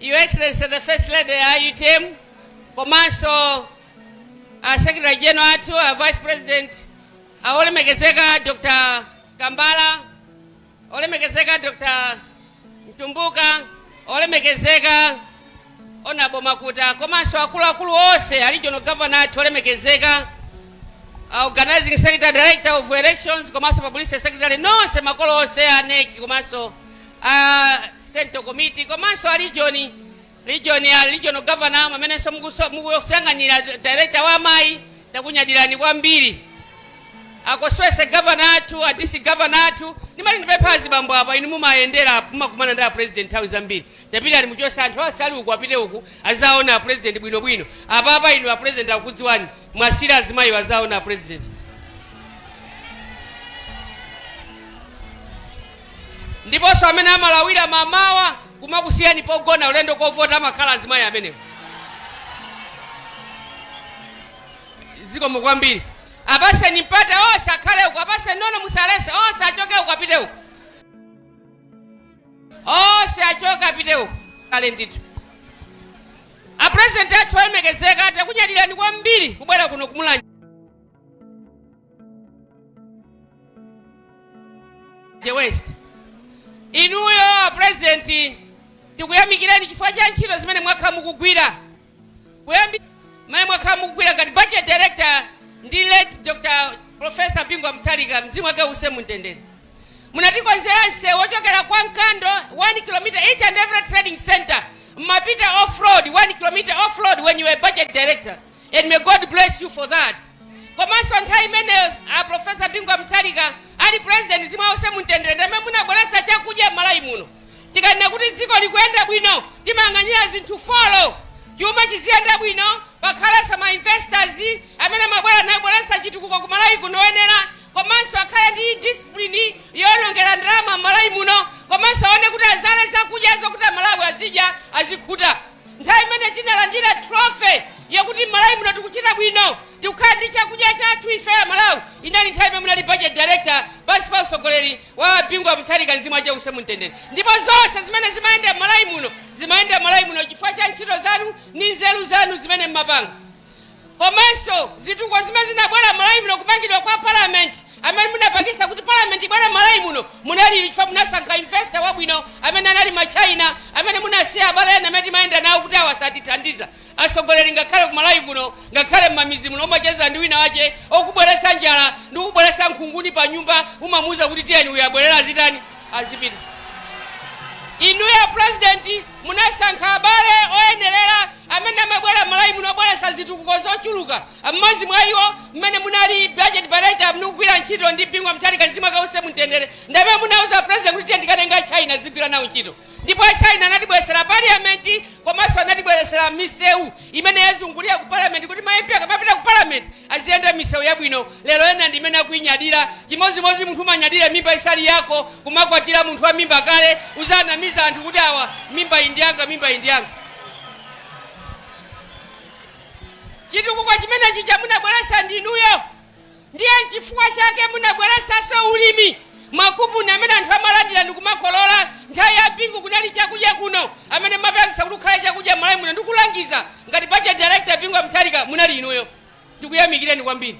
Your Excellency the First Lady ya UTM komanso a Secretary General athu a Vice President a olemekezeka Dr. Kambala olemekezeka Dr. Mtumbuka olemekezeka Honorable Makuta komanso akuluakulu onse a regional governor athu olemekezeka a organizing secretary director of elections komanso publicity secretary nonse makolo onse a NEC komanso a central committee komanso a region region a regional governor amenenso mukusanganyira director wa amayi takunyadirani kwambiri akoswese governor athu a dc governor athu ndimati ndipepha azibambo apa inu mumayendera apo, mumakumana ndi a president nthawi zambiri ndapota ali muchose anthu onse ali uku apite uku azaona a president bwinobwino apapa inu a president akudziwani muwasiire azimayi azaona a president Ndiponso amene amalawira mamawa kumakusiyani pogona ulendo kovota amakhala azimayi amenewo. Zikomo kwambiri. Apaseni mpata ose akhale uko, apaseni nono musalese ose achoke uko apite uko. Ose achoke apite uko. Kale ndithu. A president athu olemekezeka takunyadilani kwambiri kubwera kuno ku Mulanje. West inuyo a president tikuyamikireni chifukwa cha ntchito zimene mwakhala mukugwira mmene mwakhala mukugwira ngati budget director ndi late dr professor bingu mutharika mzimu wake use mumtendere munatikonzera msewu wochokera kwa mkando 1 km each and every trading center mmapita off road 1 km off road when you were budget director and may God bless you for that komanso nthawi imeneyo a profesa bingu a Mutharika ali president mzimu use mumtendere ndi amene munabweretsa chakudya m'malawi muno tikanena kuti dziko likuyenda bwino timayang'anira zinthu folo chuma chiziyenda bwino pakhalenso ma investors amene amabwera nabweretsa chitukuko ku malawi kuno oyenera komanso akhale ndi discipline yolongera ndalama m'malawi muno komanso aone kuti azale zakudya zokuti amalawi azidya azikhuta Nthawi imene tinalandira trophy yakuti m'Malawi muno tikuchita bwino, tikukhala ndi chakudya chathu ife Amalawi, inali nthawi imene munali Budget Director pansi pa utsogoleri wa a Bingu a Mutharika, mzimu wace uuse mu mtendere, ndipo zonse zimene zimayenda m'Malawi muno zimayenda m'Malawi muno chifukwa cha ntchito zanu ndi nzeru zanu zimene mmapanga. komanso zitukuko zimene zinabwera m'Malawi muno, kumangidwa kwa Parliament, amene munapangisa kuti Parliament ibwere m'Malawi muno munali inu chifukwa munasankha investor wabwino amene anali ma China, amene munasiya abale ena amene timayenda nawo kuti awa satithandiza. Atsogoleri ngakhale ku Malawi muno, ngakhale m'mamidzi muno umacheza ndi wina wache okubweresa njala ndi kubweresa nkhunguni pa nyumba umamuuza kuti tiyeni uyu abwerere azitani, azipita. Inuyo a President. Munasankha abale oyenerera amene amabwera Malawi muno obweretsa zitukuko zochuluka. M'modzi mwa iwo m'mene munali Budget Director amene mukugwira ntchito ndi Bingu wa Mutharika mzimu wake uuse mumtendere ndi amene munauza President kuti tiye tikatenge a China tidzigwira nawo ntchito ndipo a China anatibweretsera Parliament komanso anatibweretsera miseu imene yazungulira ku Parliament kuti ma MP akamapita ku Parliament aziyenda misewu yabwino, lero ena ndi imene akuinyadira, chimodzimodzi munthu kumanyadira mimba isali yako, kumakwatira munthu wa mimba kale, uziwanamiza anthu kuti awa mimbayi ndi yanga mimbayi ndi yanga. Chitukuko chimene chija munabweretsa ndi inuyo, Ndiye nchifukwa chake munabweresanso ulimi ma coupon amene anthu amalandira ndikumakolola, nthawi ya Bingu kunali chakudya kuno, amene amapangisa kuti kukhale chakudya Malawi muno ndikulangiza ngati budget director Bingu wa Mutharika munali inuyo, ndikuyamikireni kwambiri.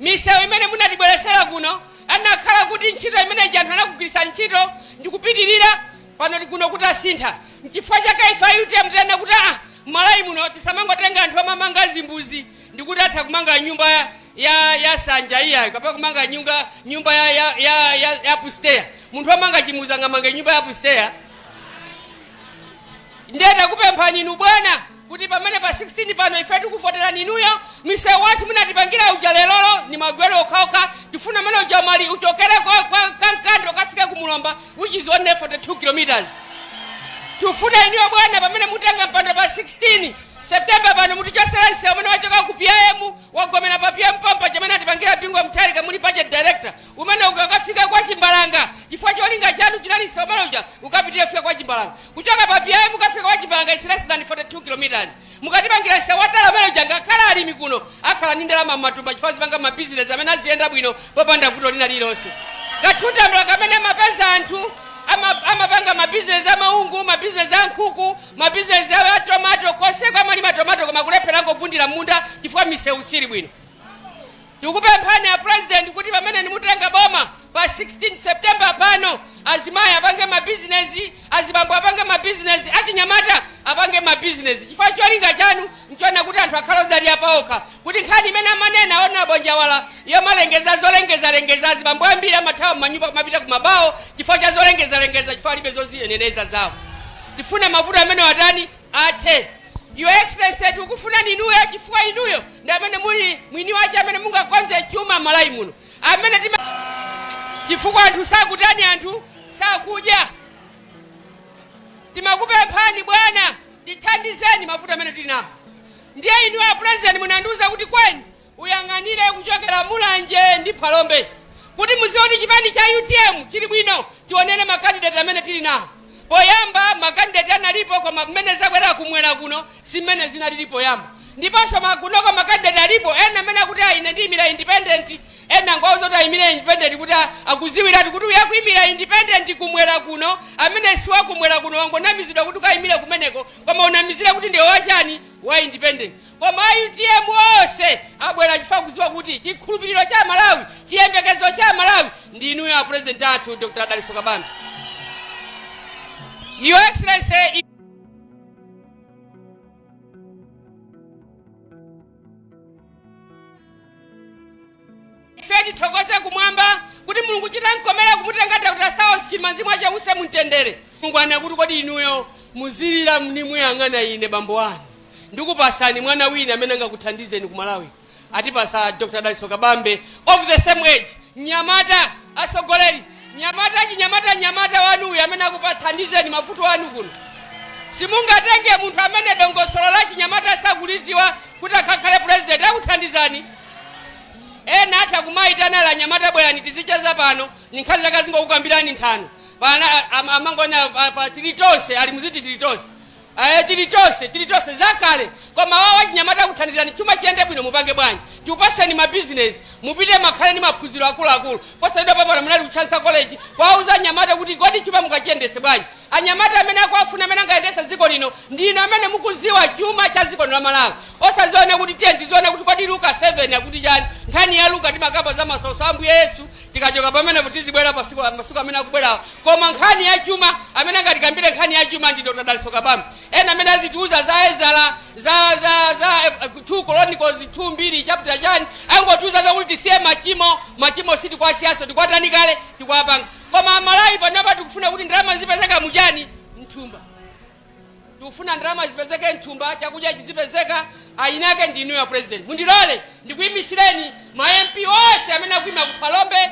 Misewu imene munatibweresera kuno anakhala kuti ntchito imene ija anthu anakugwirisani ntchito ndikupitirira, pano kuno kutasintha nchifukwa chake ife a utm tinanena kuti aah Malawi muno tisamangotenga anthu omamanga zimbuzi, ndikuti atha kumanga nyumba ya, ya, ya sanja iyayo kapena kumanga nyumba, nyumba ya, ya, ya, ya, ya upstairs munthu amanga chimbuzi sangamange nyumba ya upstairs ndiye takupemphani inu bwana kuti pamene pa 16 pano ife tikuvoterani inuyo msewu wathu munatipangira uja lerolo ndi magwero okhaokha tifuna amene uja mali uchokere kwa, kwa Kankando ukafike ku Mulomba which is only 42 kilometers tifuna inuyo bwana pamene mutenga mpando pa 16 September pano mutichotsela nsewu umene wachoka ku PIM wagomela pa PIM pompaja umene atipangila Bingu wa Mutharika muli budget director umene ukafika kwa Chimbalanga chifukwa cholinga chanu chinali nsewu umene uja ukapitilile kufika kwa Chimbalanga kuchoka pa PIM kukafika kwa Chimbalanga is less than 42 kilometers mukatipangila nsewu watala umene uja ngakhale alimi kuno akhala ndi ndalama m'matumba chifukwa azipanga ma business amene aziyenda bwino popanda vuto lina lilonse kathuntambula kamene amapeza anthu ama- amapanga mabizinesi amaungu mabizinesi ankhuku Mabizinesi aja a tomato, konseko amalima tomato koma kulephera amangovundira m'munda chifukwa misewu siili bwino. Tikukupemphani a President kuti pamene inu mutenga boma pa 16 September pano, azimayi apange mabizinesi, azibambo apange mabizinesi, achinyamata apange mabizinesi chifukwa cholinga chanu n'chofuna kuti anthu akhale odzidalira paokha. kuti nkhani imene amanena Hon Njawala yomalengeza zolengezalengeza azibambo ambiri amathawa m'manyumba kumapita ku mabawo chifukwa cha zolengezalengeza chifukwa alibe zoziyenereza zawo tifuna mavuto amene watani athe your excellency tikufunani inuyo chifukwa inuyo ndi amene muli mwini wache amene mungakonze chuma Malawi muno amene tima chifukwa anthu sakutani anthu sakudya tikukupemphani bwana tithandizeni mavuto amene tili nawo Ndiye inu a President munandiuza kuti Kweni uyang'anire kuchokera Mulanje ndi Phalombe kuti muziwe kuti chipani cha utm chili bwino tionere ma candidate amene tili nawo. Poyamba ma candidate analipo koma mmene zakwera kumwera kuno si mmene zinalili poyamba ndiponso kunoko ma candidate alipo ena amene akuti ayi ine ndiyimira independent ena ngwauza kuti ayimire independent kuti a- akuziwiratu kuti uyu akuyimira independent kumwera kuno amene si wakumwera kuno wangonamizidwa kuti ukayimire kumeneko koma unamizira kuti ndiwe wachani wa independent koma a utm onse abwera chifukwa akudziwa kuti chikhulupiriro cha malawi chiyembekezo cha malawi ndi inuyo a president athu dr dalitso kabambe your excellency Ife tithokoze kumwamba kuti Mulungu chitankomera kumutenga Dr Saulos Chilima Mzimu wache uuse mumtendere. Mulungu anena kuti kodi inuyo muzilira ndi muyang'ana ine bambo anu ndikupasani mwana wina amene angakuthandizeni ku Malawi atipasa Dr Dalitso Kabambe of the same age mnyamata atsogoleri Nyamata, chinyamata, nyamata wanu uyu amene akukathandizeni mavuto anu kuno. Simungatenge munthu amene dongosolo la chinyamata sakuliziwa kuti akakhale president akuthandizani. Ena atha kumayitana anyamata bwerani tizicheza pano, ni nkhani zake azingokukambirani nthano. Pena am- amangona pa, pa tili tonse, ali muziti tili tonse. Eee tili tonse tili tonse zakale koma awawa achinyamata akuthandizani chuma chiyende bwino mupange bwanji tikupaseni ma business mupite mukakhale ndi maphunziro akuluakulu posachedwapa pano munali ku chansa college kuwauza anyamata kuti kodi chuma mungachiyendese bwanji anyamata amene akuwafuna amene angayendese dziko lino ndinu amene mukuziwa chuma cha dziko lino la malawi osaziona kuti tiyeni tiziona kuti kodi luka 7 akuti chani nkhani ya luka timakamba za masautso a ambuye yesu Tikachoka pamenepo tizibwera pasiku masiku amene akubwerawa koma nkhani ya chuma amene angatikambire nkhani ya chuma ndi Dr. Dalitso Kabambe ena amene azitiuza za Ezara za za za eh, 2 Chronicles 2 mbiri chapter chani angotiuza zakuti tisiye machimo machimo sitikuwasiyanso tikuwatani kale tikuwapanga koma amalawi panopa tikufuna kuti ndalama zizipezeka muchani mthumba Tikufuna ndalama zizipezeke mthumba, chakudya chizipezeka, eni ake ndi inuyo a President. Mundilole ndikuyimisireni ma MP onse amene akuyima ku Phalombe,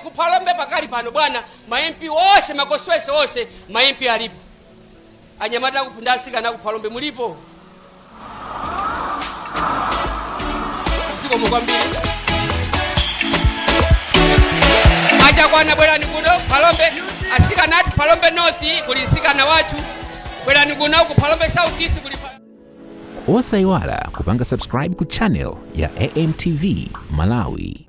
ku Phalombe pakali pano bwana ma MP onse, ma constituency onse ma MP alipo. Anyamata ndi atsikana aku Phalombe mulipo? zikomo kwambiri achakwana bwerani kuno phalombe asikana ati phalombe north kuli msikana wathu bwerani kuno ku phalombe south east kuli pa- osayiwala kupanga subscribe ku channel ya amtv malawi